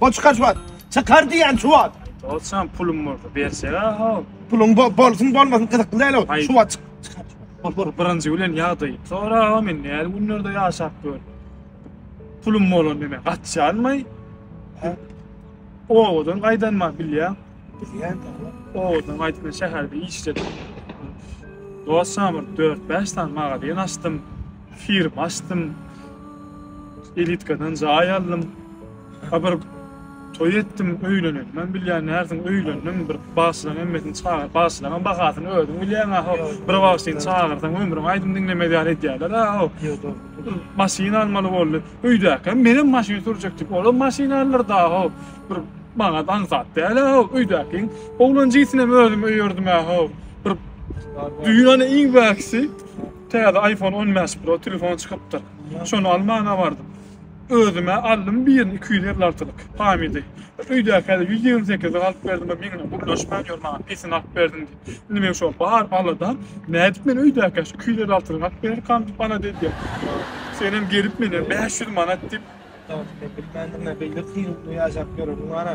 Bol çykar şu wagt. Çykar diýen şu wagt. Dostum pulum bolsa bersene ha. Pulun bo bolsun bolmasyn gyzykly däl o. Şu wagt çyk. Bol bol birinji bilen ýagdaýy. Sonra ha men näl günlerde ýaşap gör. Pulum bolan neme gaçýanmy? Owadan gaýdan ma bilýän. Bilýän. Owadan gaýdan şäherde işledim. Dostum 4-5 sany magazin açdym. Firma açdym. Elitkadan jaý aldım. A bir toý etdim öýleneli. Men bilýän närsiň öýlendiň bir bagşylaň hemmesini çagyr. Bagşylaňam bahasyny özüň bilýäň aho. Bir bagşyny çagyrsaň ömrüň aýdym diňlemez ýaly edýärler aho. Bir maşyn almaly boldy. Öýdäkem menem maşyn sürjek diýip olam maşyn aldyrdy aho. Bir maňat aňsat däl aho. Öýdäkiň oglan jinsinem özüm öýerdim aho. Bir düýn ana iň bäkisi täze iPhone on bäş pro telefon çykypdyr. Şony almana bardym. Özüm-ä aldym bir ýerden iki ýüz elli altylyk pamydy. Bir öýdäkä-de ýüz ýigrimi sekizilik alyp berdim, bir meňňe gürleşmän ýör, maňa pesini alyp berdiň diýip. Indi meň şo bar aladam, nädip men öýdäkä şu iki ýüz elli altylygy alyp bererkäm diýip alada edýän. Senem gelip, menem bäş ýüz manat diýip. Dogrusyny bilmändirin-ä, beýle kyn günde ýaşap ýöreniň bar-a.